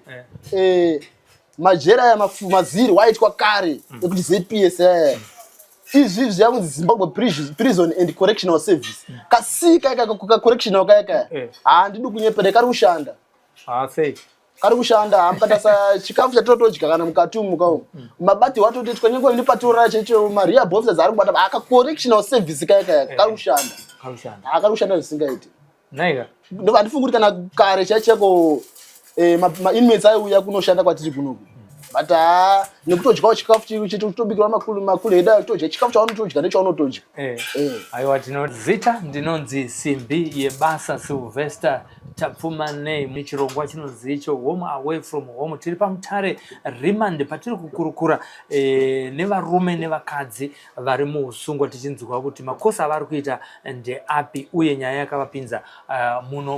eh. eh, majera aya mafumazirwa aitwa kare mm. ekuti zps eh. izvi zviyakunzi zimbabwe prison and correctional service mm. kasika ikakacorrectional kaya kaya eh. handidi kunyepera kari kushanda ah, kari kushanda hamukatasa chikafu chatotodya kana mukati umu muka umu mm. mabati watotoitwa nyengo ini patorara chaicho maria bofisa dzaari kubata akacorrectional service kaya kaya kari kushanda akari kushanda zvisingaiti Naiga. Ndo andifunga kuti kana kare chaicheko eh ma inmates aiuya kunoshanda kwatiri kuno. But ah nekutodyawo chikafu chiri chiti kutobikirwa makulu makulu heda kutodya chikafu chaunotodya nechaunotodya. Eh. Eh. Aiwa tinozita ndinonzi Simbi yebasa Sylvester tapfuma nei muchirongwa chinonzi icho home away from home tiri pamutare remande patiri kukurukura e, nevarume nevakadzi vari muusungwa tichinzwa kuti makosa avari kuita ndeapi uye nyaya yakavapinza uh, muno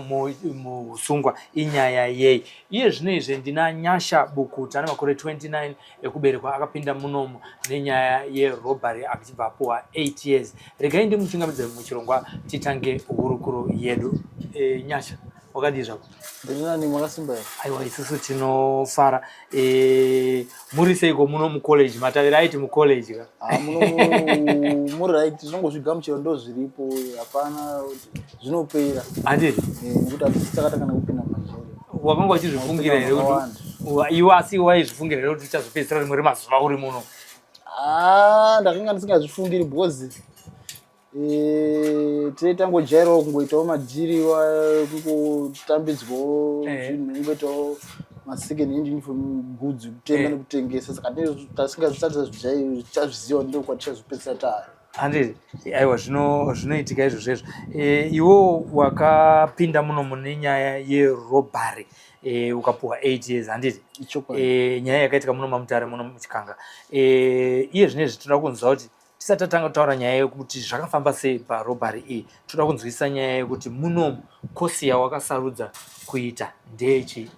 muusungwa inyaya yei iye zvino izve ndina nyasha bukuta ane makore 29 ekuberekwa akapinda munomu nenyaya yerobary achibva apuwa 8 years regai ndimuchingamidze muchirongwa titange hurukuro yedu e, nyasha wakadii zvako ndirinani makasimba here aiwa isusu tinofara eh, muri seiko muno mucollege matavira aiti mucollege ka ah, muri right tinongozvigamuchira ndo zviripo hapana zvinopera handii eh, nekuti hatisisakatanga nekupinda mumajeri wakanga wachizvifungira here kuti iwe asi waizvifungira here kuti uchazopedzisira rimwe remazuva uri muno ah, ndakanga ndisingazvifungiri because Eh, tine tangojairawo kungoitawo madhiri kungotambidzwawo eh. zvinhu kungoitawo masecond hand uniform goods kutenga eh. nekutengesa saka tasingasati tazviziva ndo kwatichazopedzisa tari handei aiwa zvinoitika izvozvo izvo iwo wakapinda muno mune nyaya yerobhary e, ukapuhwa eight years handiti e, nyaya yakaitika muno mamutare muno muchikanga e, iye zvinezvi tinoda kunzwa kuti tisati tatanga kutaura nyaya yekuti zvakafamba sei parobhari iyi toda kunzwisisa nyaya yekuti munomu kosi yawakasarudza kuita ndeyechii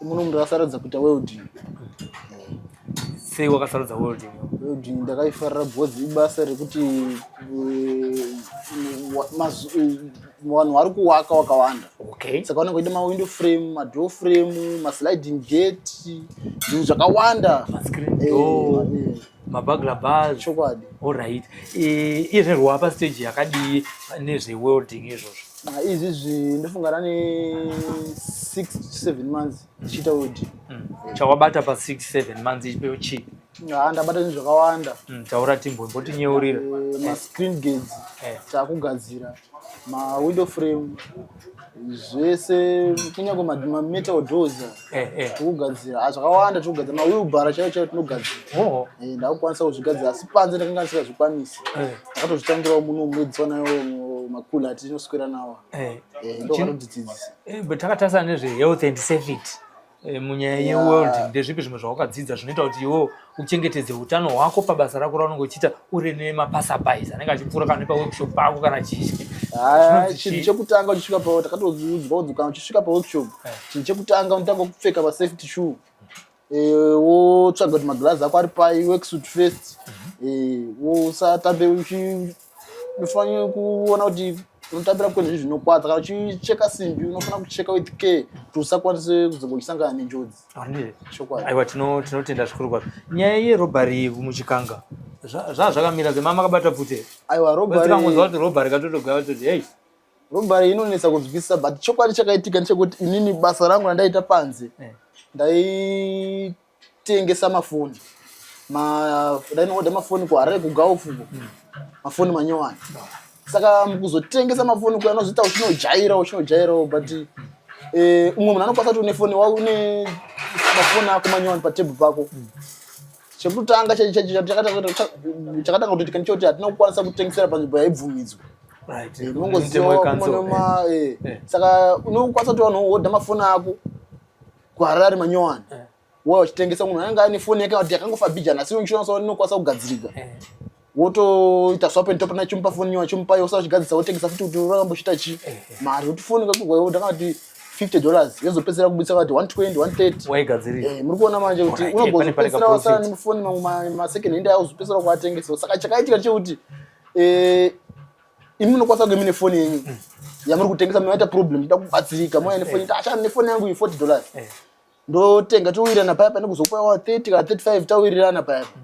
munomu ndakasarudza kuita welding sei wakasarudza welding welding ndakaifarira because ibasa rekuti eh, vanhu vari kuwaka wakawanda okay. saka vanenge vaida mawindow frame madoor frame masliding gate zvinhu zvakawanda eh, eh. mabagla bars chokwadi alright iye zvino rwapa stage yakadii nezve welding izvozvo ah, izvi zvi ndofunga rane 6 to 7 months ndichiita welding mm. chawabata pa 6 7 months ichipewo chii haa ah, ndabata zvinhu zvakawanda mm, taura timbombotinyeurira eh, mascreen gates eh. takugadzira ma window frame zvese kunyange mametal doors eh, eh. tikugadzira ah, zvakawanda tikugadzira mawilbara chaiyo chaiyo tinogadzira oh. eh, ndakukwanisa kuzvigadzira asi panze ndakanga ndisingazvikwanisi ndakatozvitangirawo muno mwedzi wanayo makula atinoswera nawo ndokutodzidzisa but takatarisa nezvehealth and safety Eh, munyaya yeworld ndezvipi zvimwe zvawakadzidza zvinoita kuti iwo uchengetedze utano hwako pabasa rako raunenge uchiita uri nemapasabais anenge achipfuura kana nepaworkshop pako kana chichi ah, chinhu chekutanga uchisvika pa takatoudzwa kuti kana uchisvika paworkshop eh. chinhu chekutanga unotanga kupfeka pasafety shoe eh, wotsvaga kuti magirazi ako ari pai worksuit first mhm. wosatambe unofanira kuona kuti unotambira kune zvinhu zvinokwadza kana uchicheka simbi unofanira kucheka with care kuti usakwanise kuzongochisangana nenjodzi aiwa tinotenda zvikuru kwazvo nyaya yerobhari muchikanga zvaa zvakamira zve mama akabata pfute aiwa robakangonzwa kuti robhari katotogaya vatoti hei robhari inonetsa kunzwisisa but chokwadi chakaitika ndechekuti inini basa rangu randaita panze eh. ndai tengesa mafoni dainoda mafoni kuharare kugaufu hmm. mafoni manyowani saka mukuzotengesa mafoni kuya anozoita uchinojaira uchinojairawo but hmm. eh, umwe munhu anokwanisa kuti une foni wa une mafoni ako manyowani patebhu pako hmm. chekutanga chakatanga kutoitika ndichoti hatina kukwanisa kutengesera panzvimbo yaibvumidzwa unongoziwa eh, eh. saka unokwanisa kuti vanhu woda mafoni ako kuharare manyowani eh. wauya uchitengesa munhu anenge aine foni yake kuti yakangofa bijana asi insurance inokwanisa kugadzirika eh. wotoita swap and top na chimupa foni nyowa chimupa yosa uchigadzirisa wotengesa futi kuti urambochita chi eh, mari kuti foni kakugwa ndakati 50 dollars yozopedzera kubudisa kuti 120 130 waigadzirira eh muri kuona manje kuti unogozopedzera wasana nemufoni mamwe ma second hand ayo uzopedzera kuatengesa saka chakaitika chekuti eh imi munokwasa kunge mine foni yenyu mm. yamuri kutengesa munoita problem ida kubatsirika mouya nefoni ita ashana nefoni yangu iyi forty dollars eh. ndotenga towirirana paya pane kuzokupa wa thirty kana thirty five tawirirana paya mm.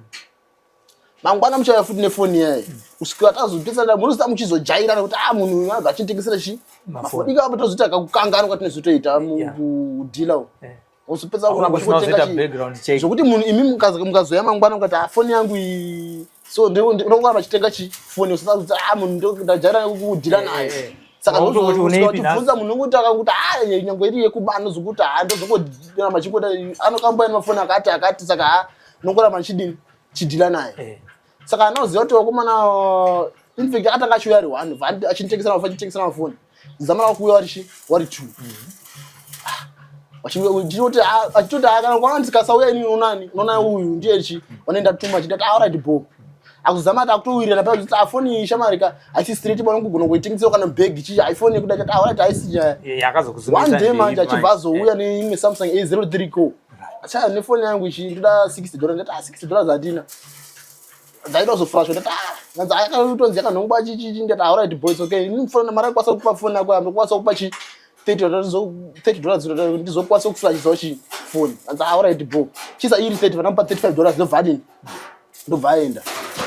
mangwana muchauya futi nefoni yayo mm. kusvikira tazopesana munozoita muchizojairana kuti a ah, munhu uyu abva achitengesera chi mafoni ikaapo tozoita kakukanganwa kwatinozotoita mudhila u eh. Usipedza kuona kuti unotenga background check. Zvokuti munhu imi mukazi mukazoya mangwana mukati ah phone yangu iyi. So ndio ndio kwa vachitenga chi phone usasa kuti ah munhu ndio ndajara kudira eh, naye. Eh, eh. Saka ndio kuti uneipi na. Ufunza munhu kuti akakuti ah nyango iri yekubana zokuti ah ndio zokuti na machikota anokamba ina phone akati akati saka ah nokora machidini chidila naye. saka anoziva kuti wakomana infact atanga achiuya ari one achinitengesera mafa achitengesera mafoni zamana wakuuya wari chi wari two achitoti achitoti kana kwaona ndikasauya ini unani unona uyu ndiye chi wanoenda tuma achiti ati alright bo akuzama ati akutowirira pa kuti afoni shamari ka asi straight bwana kugona kuitengesera kana bag chi iphone kuda kuti alright aisi nyaya yakazokuzuma one day manje achibva azouya neimwe samsung a03 co achaya nefoni yangu ichi ndoda 60 dollars ndati 60 dollars hatina dzaita kuzofrashwa ndati ah nyanza akatonzi yakanhongwa achichichi ndati ah right boys okay ini mfana mari akwanisa kupa phone yako yambe kwanisa kupa chi 30 dollars ndizokwanisa kuflashisawo chi phone nyanza ah right bro chisa iri 30 vanomupa 35 dollars ndobva adini ndobva aenda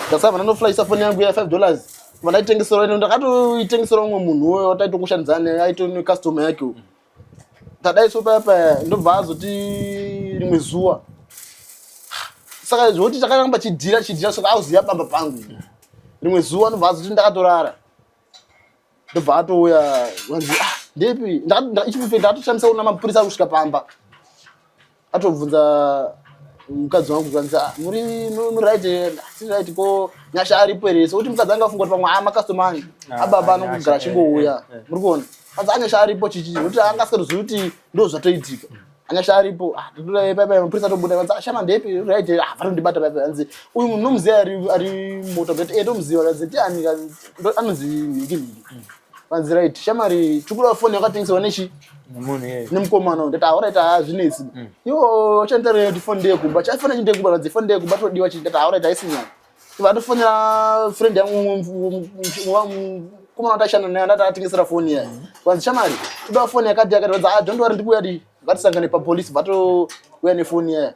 ndasava vanonoflashisa phone yangu ya 5 dollars vandaitengesera ndakatoitengesera umwe munhu uyo wataitokushandidzana aitone customer yake uyo tadaiso paya paya ndobva azoti rimwe zuva saka zvokuti chakaramba chidhira chidhira saka auziva bamba pangu rimwe zuva ndobva azoti ndakatorara ndobva atouya anzi ah, ndepi ichifufe ndakatoshandisa kuna mapurisa kusvika pamba atobvunza mukadzi wangu kwanzi ah, muri right asi right ko nyasha aripo here sokuti mukadzi anga afunga kuti pamwe ama customer angu ah, ababa anongogara achingouya eh, eh, eh. muri kuona kwanzi anyasha aripo chichii kuti anga asingatozivi kuti ndo zvatoitika anyasha aripo ah, mapurisa atobuda kwanzi ashama ah, ndepi right ah vanondibata paipa kanzi uyu munhu nomuziva ari moto kuti e ndomuziva kanzi tiani anonzi nhiki nhiki Vanzi right, shamari tukuda phone yakatengeserwa nechi munhu yeye nemukomana uyu ndati auraita hazvinetsi mm. iwo uchanditarira kuti phone ndeye kumba chafona chinde kumba radzi phone ndeye kumba todiwa chii ndati auraita haisi nyaya vatofonera friend yangu mukomana watashanda naye ndati atengesera phone yaye mm. vanzi shamari toda phone yakati yakati radzi ah don't worry ndikuuya di vatisangane papolice vatouya nephone yaye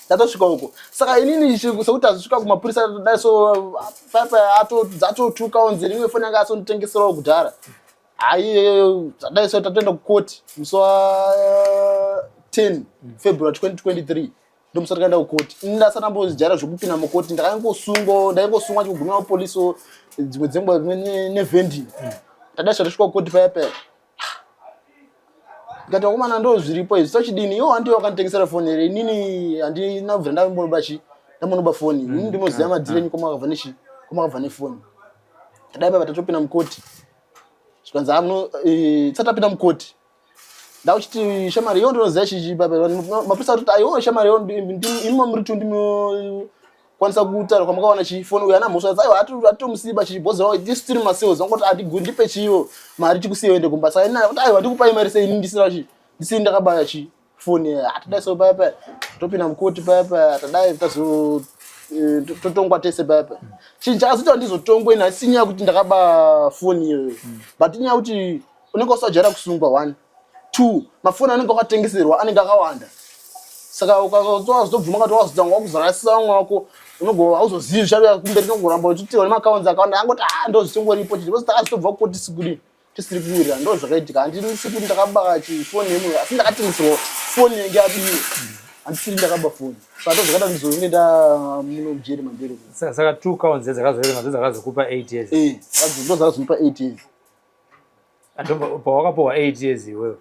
tatosvika uko saka inini sekuti azosvika kumapurisa dai so paipa atotuka onzi rimwe foni yanga asonditengeserawo kudhara haiyeyo dai so tatoenda kukoti musi wa 10 eh, february 2023 ndomusa takaenda kukoti ini ndasana mbojaira zvekupinda mukoti ndakangosungwa ndaingosungwa chikugumira mapolisi dzimwe dzenguva nevending tadai so tasvika kukoti paya paya ndikati vakomana ndo zviripo izvi sochidini iwo handiwe wakanditengesera foni here inini handina kubvira ndambonoba chi ndambonoba foni mm, ini ndinoziva ah, madziro ah. enyu komakabva nechi komakabva nefoni tadai papa tatopinda mukoti zvikanzi amuno ah, eh, tsati tapinda mukoti ndauchiti shamari iyo ndinoziva chichi papa mapurisa atoti aiwo shamari iyo imi mamuri tu ndimi kwanisa kutaura kwamakawana chifoni uyo ana mhosva dzaiwa atitomusiba chichibhozerawo tisu tiri masales vangoti atiguri ndipe chiyo mari tikusiya uende kumba saka inayo kuti aiwa ndikupai mari sei ndisina chi ndisini ndakabaya chi foni atidai so paya paya topinda mukoti paya paya tadai tazo eh, totongwa tese paya paya chinhu chakazoita ndizotongwe nhasi inyaya kuti ndakaba foni iyoyo but inyaya kuti unenge usajaira kusungwa one two mafoni anenge wakatengeserwa anenge akawanda saka ukazobvuma kati wazotanga wakuzorasisa vamwe wako unogova auzozivi zvichauya kumberi nogoramba uchiti one maakaunzi akawanda angoti a ah, ndozvichingoripo chii vozoti asitobva kuko tisi kudii tisiri kuwirira ndo zvakaitika handisi kuti ndakabaka chifoni yemunhu asi ndakatengeserwa foni yange yadiwe handisiri ndakaba foni saka ndozvakaita ndizonge ndamuno mujeri mamberi saka two counts dzakazoerenga dzakazokupa eight years eh, ndo dzakazomupa eight years pawakapuhwa eight years iwewe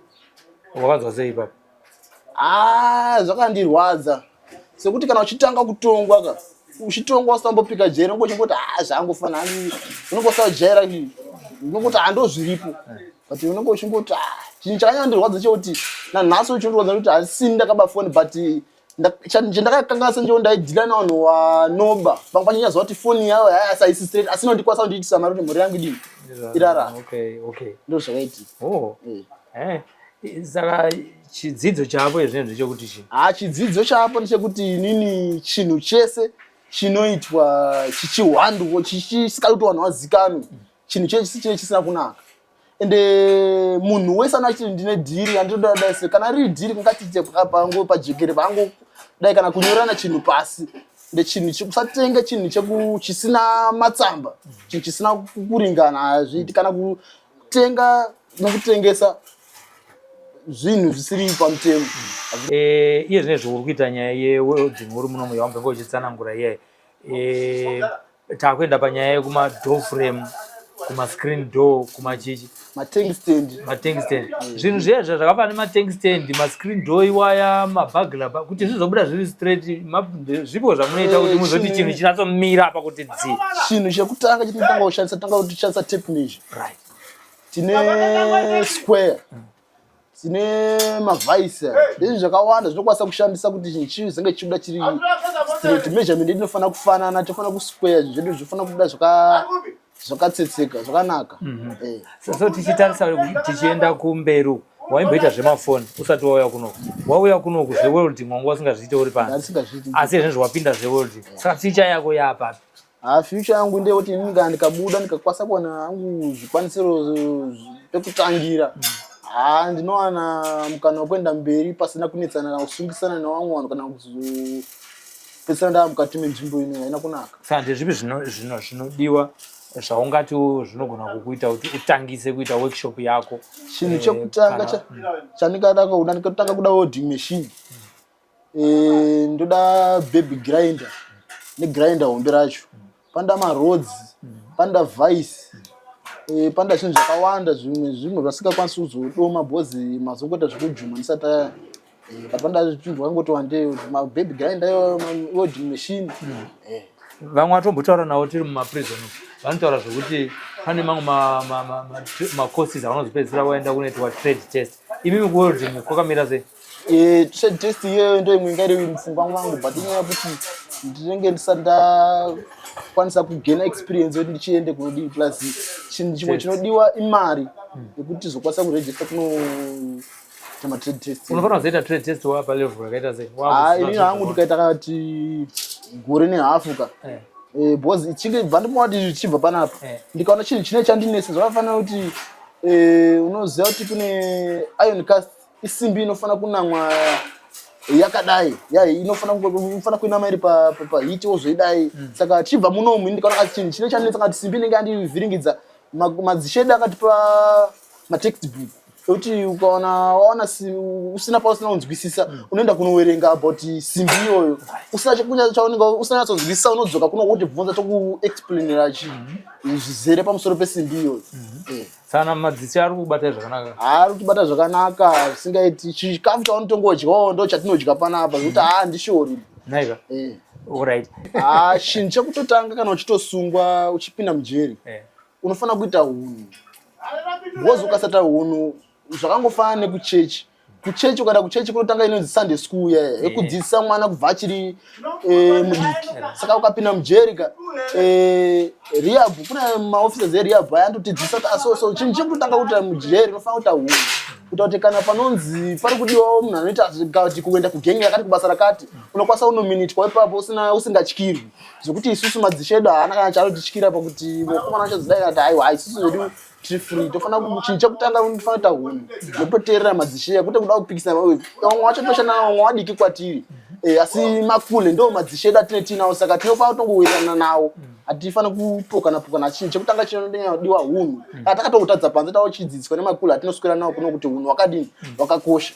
wakanzwa sei ipapo ah, zvakandirwadza sekuti kana uchitanga kutongwa ka uchitongwa usambopika jeri unongo uchingoti ha ah, zvangofana hanzi unongo usajaira unongoti hando ah, zviripo but unongo uchingoti ah, chinhu chakanyandirwadza chekuti nanhasi uchindirwadza kuti hasini ndakaba foni but chandakakanga senjewo ndaidhila navanhu wanoba vanga vachinyaziva kuti foni yavo haisi straight asi nondikwanisa kundiitisa mari kuti mhuri yangu idii irara ndo zvakaitika oh. eh. Eh. saka chidzidzo chaapo izvinhu ndechekuti chii ha chidzidzo chaapo ndechekuti inini chinhu chese chinoitwa chichihwanduko chisikakuti vanhu vazikanwe chinhu chese chinenge chisina kunaka and eh, munhu wese ano achiti ndine dhiri andinoda dai se kana riri dhiri kungatiite pangu pajekere pangu dai kana kunyorana chinhu pasi ndechinhu chekusatenga chinhu cheku chisina matsamba chinhu chisina kuringana hazviiti kana kutenga nokutengesa zvinhu zvisiri pamutemo eh, iye zvine zvouri kuita nyaya yedzimhuri munomu yawambenge uchitsanangura iyayi eh, takuenda panyaya yekuma door frame kuma screen door kuma chichi matank stand matank stand zvinhu zviya zviya zvakafanana nematank stand mascreen door iwaya mabagla kuti zvizobuda zviri straight zvipo zvamunoita kuti eh, muzoti chinhu chinatsomira apa kuti dzi chinhu chekutanga chitotanga kushandisa tanga kutishandisa tape measure right tine square dzine mavhaisa ndezvi zvakawanda zvinokwanisa kushandisa kuti chinhu chii zenge chichibuda chiri straight measurement inofanira kufanana tofanira kusquare zvedu zvofanira kubuda zvakatsetseka zvakanaka mhm. eh. so tichitarisa tichienda kumberi uku waimboita zvemafoni usati wauya kunoku wauya kunoku zveworld mwanga usingazviite uri pansi asi izvezvi wapinda zveworld saka ficha yako yaapapi Haa future yangu ndeyekuti ini kana ndikabuda ndikakwasa kuwana hangu zvikwanisiro pekutangira haa ndinowana mukana wekuenda mberi pasina kunetsana kana kusungisana nevamwe vanhu kana kuzopedzisana ndaa mukati menzvimbo ino haina kunaka saka ndezvipi zvinodiwa zvaungati zvinogona kukuita kuti utangise kuita workshop yako chinhu eh, chekutanga chandingada kuda ndikatanga kuda welding machine mm. Eh, ndoda baby grinder negrinder hombe racho panoda marods panoda vice eh, panoda zvinhu zvakawanda zvimwe zvimwe zvasingakwanisi kuzodoma bhozi mazongoita zvekujuma ndisati aya Eh, but panoda zvinhu zvakangoti wandei mababy grinder iwo welding machine Eh, vamwe vatombotaura navo tiri mumaprison umu, vanotaura zvekuti pane mamwe ma- ma- ma- ma- macourses avanozopedzisira vaenda kunoitwa trade test imi mukuwelding kwakamira sei Eh, trade test iyoyo ndo imwe inga iri mupfungwa mwangu but inyaya yekuti ndinenge ndisati ndakwanisa kugena experience yekuti ndichiende kunodii plus chinhu chimwe chinodiwa imari hmm. yekuti tizokwanisa kuregister kuno matrade test unofanira kuzoita trade test wa palevel yakaita sei ah, ini hangu tikaita kati gore nehafu ka eh. Eh, because ichinge bva ndimati zvichibva panapa eh. ndikaona chinhu chine chandinese zvakafanira kuti unoziva kuti kune iron cast isimbi inofanira kunamwa yakadai yai inofanira inofanira kuinama iri pahiti wozvoidai mm. saka achibva munomu ini ndikaona kati chinhu chine chandinetsa kati simbi inenge yandivhiringidza madzishedu akatipa matextbook ekuti ukaona waona usina pausina kunzwisisa mm. unoenda kunowerenga about simbi iyoyo usina nyatsonzwisisa unodzoka kuno wotibvunza tokuexplainira mm-hmm. zvizere pamusoro pesimbi iyoyo mm-hmm. eh. Sana madzisi ari kubata zvakanaka. Ari kubata zvakanaka singaiti chikafu chaunotanga udyawo ndo chatinodya panapa zvekuti mm. haa ndishori. Naika. Eh. Alright. Ah, chinhu chekutotanga kana uchitosungwa uchipinda mujeri. Eh. Unofanira kuita hunhu. Wozi ukasata hunhu zvakangofanana nekuchechi. kuchechi ukaenda kuchechi kunotanga inonzi sunday school ya eh. yekudzidzisa mwana kubva achiri eh, mudiki saka ukapinda mujeri ka eh, rehab kune maoffices erehab aya anototidzisa kuti aso ah, so chinhu chekutotanga kuita mujeri unofana kuita hunhu kuita kuti kana panonzi pari kudiwawo munhu anoita kuti kuenda kugenge rakati kubasa rakati unokwanisa unominitwa ipapo usina usingatyirwi zvekuti isusu madzishedu haana kana chaanotityira pakuti mukomana achazodai kana kuti aiwa isusu zvedu tiri free tofana chinhu chekutanga unofana kuita hunhu nototeerera madzisheya kwete kuda kupikisana vamwe wacho toshana vamwe wadiki kwatiri eh, asi makule ndo madzishe edu atine tiinawo saka tinofana kutongowirirana nawo hatifana kupokana pokana chinhu chekutanga chinonyanyadiwa hunhu kana takatongotadza panze tawo chidzidziswa nemakule atinoswera nawo kuno kuti hunhu wakadini wakakosha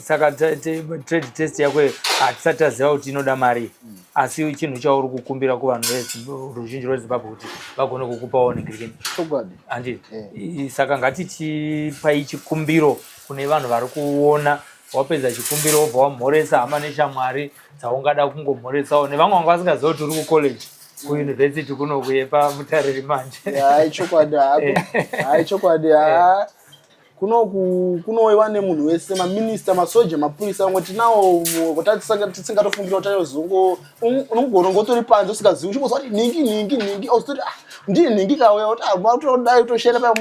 saka trade test yako hatisati taziva kuti inoda mari asi chinhu chauri kukumbira kuvanhu veruzhinji rwezimbabwe kuti vagone kukupawo negirikeni chokwadi handi eh. saka ngatichipai chikumbiro kune vanhu vari kuona wapedza chikumbiro wobva wamhoresa hama neshamwari dzaungada kungomhoresawo nevamwe vanga vasingaziva kuti uri kucollege kuyunivhesiti kunokuyepa mutariri manje hai chokwadi hako hai chokwadi ha kunoku kunowewa nemunhu wese maminista masoja mapurisa vamwe tinawo tisingatofungira kuti anozongo unogona ngotori panze usingazivi uchingoziva kuti nhingi nhingi nhingi ozitoti ah, ndiye nhingi kauya kuti ah, makutodai kutoshera paya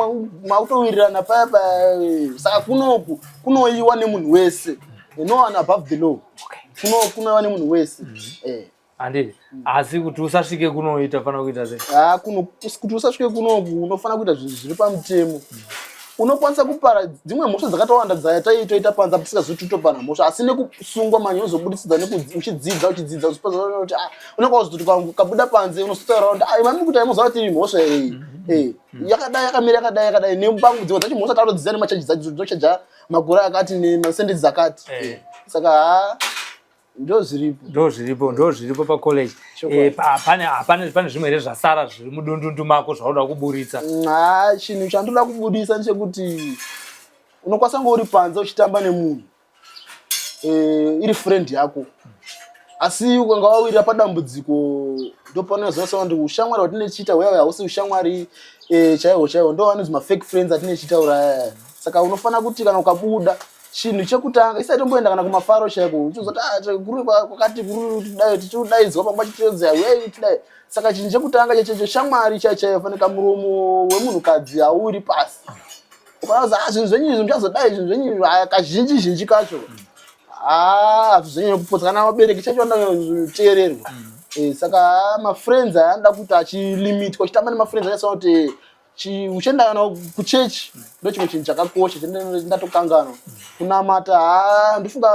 makutowirirana paya paya saka kunoku kunoiwa nemunhu wese no one above the law kunoiwa nemunhu wese mm-hmm. eh. handiti mm. asi kuti usasvike kunoita fanira kuita sei ah, kuti usasvike kunoku unofanira kuita zvinhu zviri pamutemo mm. unokwanisa kupara dzimwe mhosva dzakatowanda dzaya taitoita panza tisikazotitopana mhosva asi nekusungwa manje unozobuditsidza uchidzidza uchidzidza uchipazaoti ah, unenge wazototi kabuda panze unosotaura kuti ah, mami kuti aimoziva tiri mhosva iyi mm-hmm. eh, yakadai yakamira yakadai yakadai nebangu dzimwe dzacho mhosva tarodziza nemachaji dzacho dzinochaja magura akati nemasendedzi akati eh. eh, saka haa ndozviripo ndozviripo ndozviripo pacollege eh, pane zvimwe here zvasara zviri mudundundu mako zvaunoda kuburitsa ha chinhu chandoda kuburitsa ndechekuti unokwanisa kunge uri panze uchitamba nemunhu eh, iri friend yako asi ukanga wawirira padambudziko ndopanozosa kuti ushamwari hwatine chiita hweawe hausi ushamwari eh, chaihwo chaihwo ndo anonzi mafake friends atine chiita uraya saka unofanira kuti kana ukabuda chinhu chekutanga isati tomboenda kana kumafaro chaiko uchizoti ah, guru kwakati guru tidai tichidaidzwa pamba chitiodzai wei tidai saka chinhu chekutanga chechecho shamwari chaichaiyo fanika muromo wemunhukadzi hauri pasi ukanaza ah, zvinhu zvenyu izvi muchazodai zvinhu zvenyu ah, kazhinji zhinji kacho hazvizonyanya kupodzana vabereki chacho vanoteererwa mm. eh, saka mafriends aya anoda kuti achilimitwa chitamba nemafriends achasaa kuti uchenda nawo kuchechi ndochimwe chinhu chakakosha chandatokanganwa kunamata ha ndofunga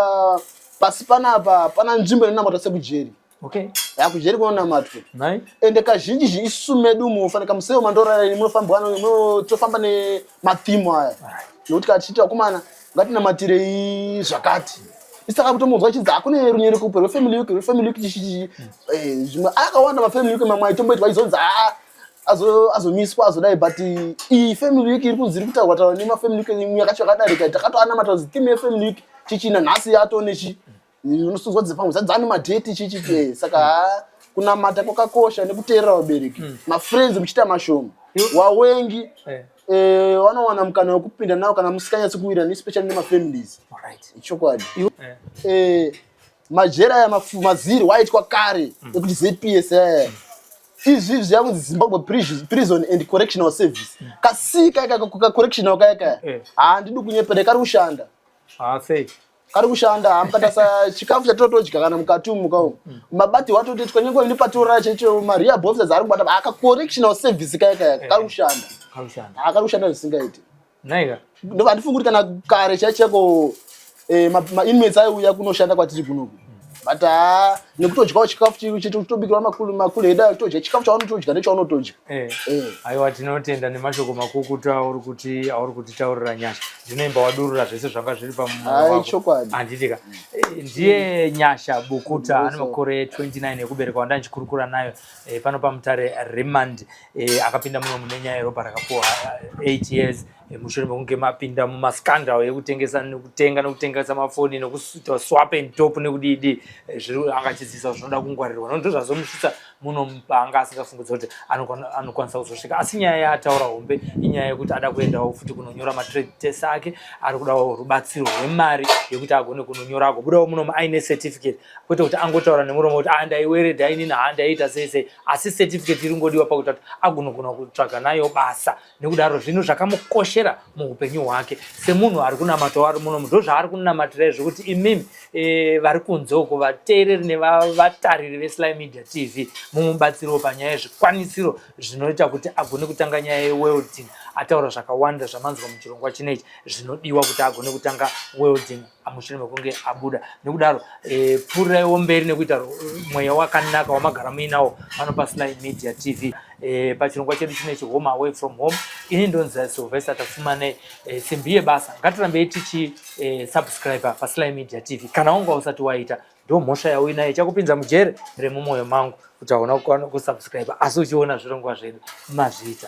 pasi panapa hapana nzvimbo inonamata sekujeri okay yakujeri kunonamatwa ende kazhinji zhinji isu medu mufane kamuseo mandorarani munofambwa tofamba nemathimu aya nokuti kachiti vakomana ngatinamatirei zvakati isaka kutomunzwa chidzi hakune runyere kupe rwefamily week rwefamily week chishii eh, zvimwe akawanda mafamily week mamwe aitomboitwa izonzi haa ah, azomiswa azodai but iyi family week iri kunzi iri kutaurwa taurwa nemafamily week imwe yakacho yakadarika takatoanamata kuti theme yefamily week chichina nhasi yato nechi unosunzwa dzepamwe zadzani madheti chichi eh, saka kunamata kwakakosha nekuteerera vabereki hmm. mafriends muchiita mashoma wawengi eh. eh, wanowana mukana wekupinda nawo kana musikanyatsi kuwirana especially nemafamilies ichokwadi majera aya mafumazirwa aitwa kare mm. ekuti zps aya eh. izvi izvi zvakunzi zimbabwe prison and correctional service mm. kasika ikaka kacorrectional kaya kaya eh. handidi kunyepere kari kushanda ah, kari kushanda hamukatasa chikafu chatotodya kana mukati umu muka umu mm. mabati watotoitwa nyangwe ini patorara chaicho marehab officers ari kubata akacorrectional service kaya kaya kari kushanda akari kushanda zvisingaiti Naiga. Ndo andifunga kuti kana kare chaicheko eh ma inmates aiuya kunoshanda kwatiri kuno. But ah nekutodyawo chikafu chiri chiti kutobikirwa makulu makulu heda kutodya chikafu chaunotodya nechaunotodya. Eh. Eh. Aiwa tinotenda nemashoko makukutu auri kuti auri kuti taurira nyasha. Ndinoimba wadurura zvese zvanga zviri pamumo wako. Ai chokwadi. Anditika. Eh, ndiye nyasha bukuta ane makore 29 ekuberekwa wanda ndichikurukura nayo eh, pano pamutare remand e, akapinda muno mune nyaya yeropa rakapuwa 8 years e, mushure mekunge mapinda mumascandal yekutengesa nekutenga nekutengesa mafoni nekuita swap and top nekudidi e, zviri anga achidzidzisa zvinoda kungwarirwa nondo zvazomusvitsa muno paanga asingafungudza kuti anokwanisa kuzosvika asi nyaya yaataura hombe inyaya yekuti ada kuendawo futi kunonyora matrade test ake ari kudawo rubatsiro rwemari yekuti agone kunonyora agobudawo munomu aine certificate kwete kuti angotaura nemuromo kuti ah ndaiweredha inini ha ndaiita sei sei asi certificate iri ngodiwa pakuita kuti agonogona kutsvaga nayo basa nekudaro zvinhu zvakamukoshera muupenyu hwake semunhu ari kunamata wari muno muno ndozvaari kunamatira izvo kuti imimi e, vari kunze uko vateereri nevatariri vesly media tv mumubatsiriwo panyaya yezvikwanisiro zvinoita kuti agone kutanga nyaya yewelding ataura zvakawanda zvamanzwa muchirongwa chinechi zvinodiwa kuti agone kutanga welding mushure mekunge abuda nekudaro e, pfuriraiwo mberi nekuita mweya wakanaka wamagara muinawo pano pasly media tv e, pachirongwa chedu chinechi home away from home ini ndonzi silvester tafumanei e, simbi yebasa ngatirambei tichi e, subscriber pasly media tv kana wanga usati waita ndo mhosva yauinayo ichakupinza mujeri remumoyo mangu kuti hauna kukwana kusubscribe asi uchiona zvirongwa zvedu mazviita